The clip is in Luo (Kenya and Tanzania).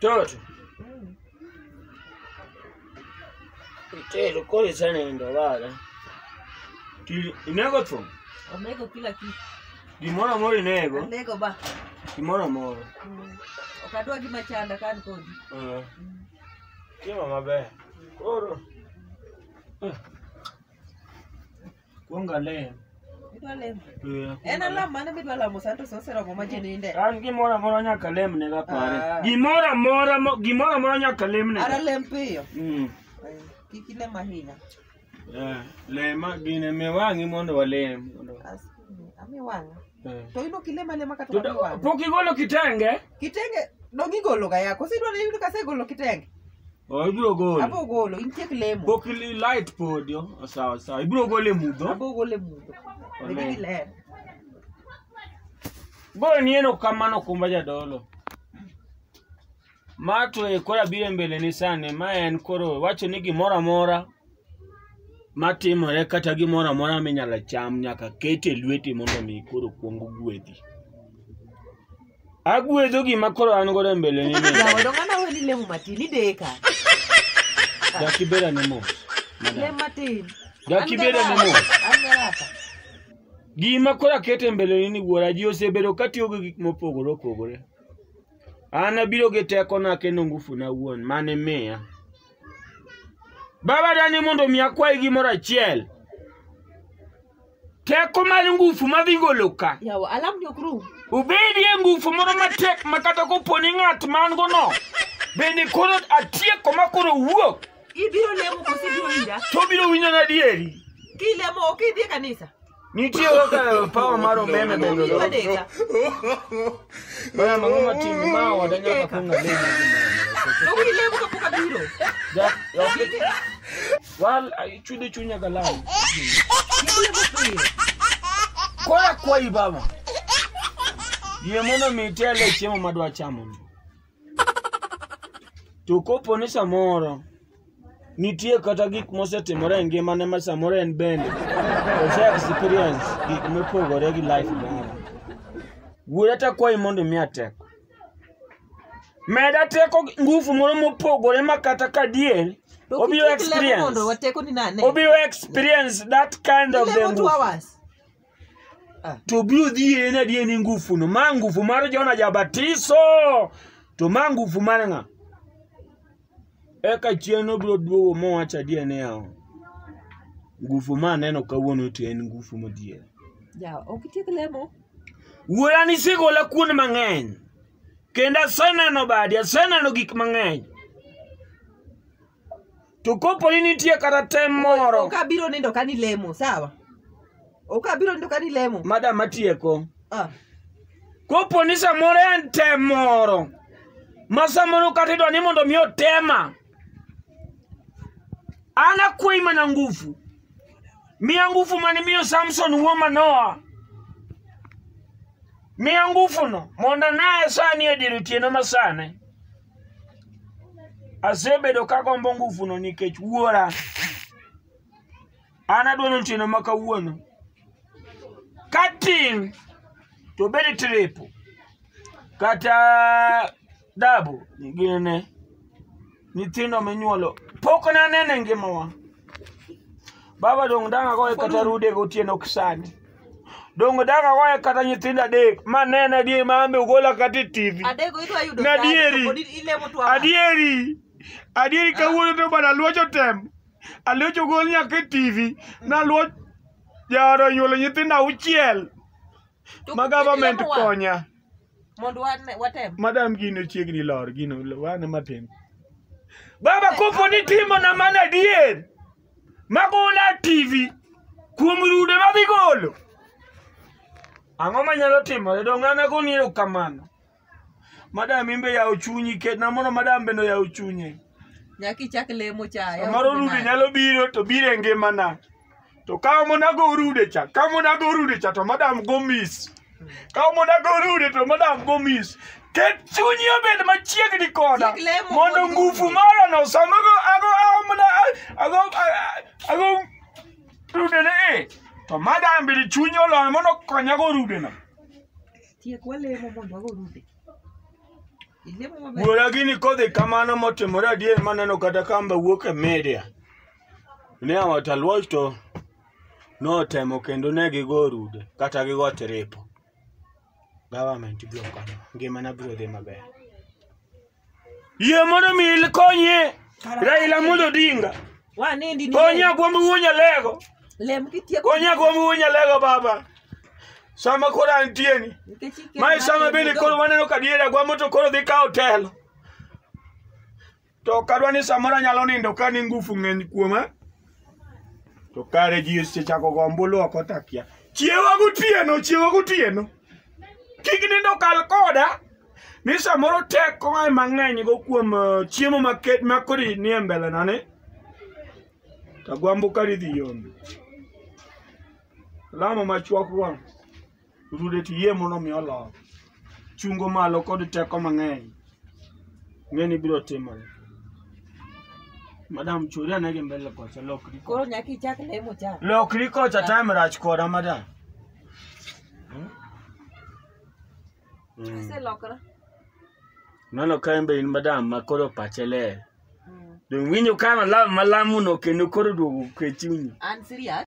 Toto. Itero kore sana ndo bala. Ti inego tu. Onego kila kitu. Gimoro amoro inego. Onego ba. Gimoro amoro. Mm. Ok adwa gima chanda ka an kodi. Eh. Chiemo maber. Koro. Eh. Kuong alem. Idwa lemo. Eh, akuong En alem. alam mane midwa lamo sani to sa oseromo ma ji ninde. An gimoro amora nyaka lem ne Ah. gapare. Gimoro amora mo- gimoro amora nyaka lem ne. Ara lem piyo. Mm. Eh, Kik ilem ahinya. Eh, lema gine me wang'i mondo walem. Mondo- As- Ami wang'a. eh. To in ok ilem alema kata To da- wang'i wang'a. Pok igolo kitenge. Kitenge dongi golo ga yako. Sidwa ni yudo kase golo kitenge. Oh, ibiro golo. Abo golo intiek lemo. Pok li- light podi. oh, Sawa sawa. Ibiro golo e mudho. Abo golo e mudho. Amen. Degi ler. Boro ni eno kamano kumba jadolo. Ma to e kora bire mbele ni sani ma en koro wacho ni gimoro amora matimore kata gimoro amora minyalo cham nyaka ket e lweti mondo mi koro kuong gwedhi agwedho gima koro an godo e mbele ni Jaodo ng'ama weni lemo matin ideka. dakibeda ne mos madam. Lem matin. dakibeda ne mos An garaka. gima koro aketo e mbele ni ni wuora ji osebedo katiyo gi gik mopogore opogore an abiro gi tekona kendo ngufuna wuon mane miya Baba dani mondo mi akwayi gimoro achiel. Teko mar ngufu madhi golo ka. Yawa, alam ni ok rum. Ubedie ngufu moro matek ma kata kopo ni ng'at man go no. Bende koro atieko ma koro wuok. Ibiro lemo koso ibiro winja? To biro winjo na dieri. Kilemo ok idhi e kanisa? Nitie kaka power mar umeme bende. Omi wadeka. Bana mang'o matin ma wada nyaka kong ng'ade. Omi lebo kapok abiro. Ja, okay. Wal chudo chunya galau. Lebo pile. Koya kwayi baba. Yie mondo mi itele chiemo madwa chamo ni. To kopo ni samoro nitie kata gik mosetimore e ngimane ma samoro en bende ose experience gik mopogore gi life moro. Wuora ta kwayi mondo imiya teko. Meda teko gi- nguvu moro mopogore ma kata kadier To obiro kik ilemo mondo experience wateko ni nane. obiro experience that kind of the Ilemo two nguvu. hours. Ah. to biro dhi en adier ni ngufuno ma ngufu mar jona jabatiso to ma ngufu mar ng'a eka chieng' obiro duogo mowacho adier niya ngufu ma aneno kawuono to en ngufu madier Ja, ok itiek lemo. wuora nisegola kuonde mang'eny kendo aseneno badi aseneno gik mang'eny to kopo ni nitie kata tem moro Ok abiro nindo ka nilemo, sawa? Ok abiro nindo ka nilemo. madam atieko Ah. kopo ni samoro en tem moro ma samoro kata idwa ni mondo mi otema an akwayi mana ngufu miya ngufu mane miyo samson wuo manoa miya ngufuno mondo anaye sani e dier otieno masane asebedo ka gombo nguvuno nikech wuora an adwa ni otieno ma kawuono ka tin to bed tripo kata dabu ginene nyithindo minyuolo pok nanene ngimawa baba dong' dang' agoye kata rude gotieno kisani dongo daka waye kata nyithindo adek ma nene adier ma ambe ugola kata e tv Adego idwa yudo Na sani, dieri. pod ilemo tu ama. adieri adieri kawuono to bana luocho tem aluocho gol nyaka e tv naluoch jaoro onyuolo nyithindo auchiel To ma government ilemo wa- konya Mondo wane- watem. madam gino chiegni lor gino wane matin baba kopo ni timo na mana adier magona TV kuom rude madhi golo. Ang'o manyalo timore? Donge an agoni erokamano? Madam imbe yawo chunyi ketna mondo madam bende oyaw chunye. Nyaka ichak lemo cha. yaw Samoro chunyi rude nade. nyalo biro to biro e ngimana. To ka monago rude cha, ka monago rude cha to madam go miss. ka omona gorude to madam gomis ket chunyi obed machiegni koda Kik lemo mondo mondo ngufu orude. mara no sama go ago amna ago ago rude ne e to madam bidi chunyi olony mondo konya go rude no Tiek walemo mondo wago rude. Ilemo maber. wuora gini kodhi kamano motimore adier maneno kata kamba wuok e media ne awataluoch to notemo kendo ne gigo rude kata gigo tiripo government biro konyo ngimana biro dhi maber yie mondo mi konye raila mondo odinga wanindi ni konye agwombi wuonya lego lem kitieko konye agwombi wuonya lego baba sama koro antieni nikech ikelo mae sama ng'ato bende e koro dhoot. waneno ka diere agwambo to koro dhi kawo telo to ok adwa ni samoro anyalo nindo ka ni ngufu ng'eny kuoma to kare ji osechako go ombulu ok otakia chiewa gotieno chiewa gotieno kik nindo kal koda ni samoro teko ng'ae mang'eny go kuom eh, chiemo maket ma kodi nie mbelena ni tagwambo karidhi yombi lamo machuok go Rude to yie mondo mi olo. Chungo malo kod teko mang'eny. Ng'eni biro timore. Madam chori ane gi mbele kocha lokri. kocha. Koro nyaka ichak lemo cha. Lokri kocha time rach koda madam. Hmm? Hmm. Aselokra. Mano ka en be in madam ma koro pache ler. Donge winjo ka malam malamuno kendo koro duogo ke chunyi. An serious.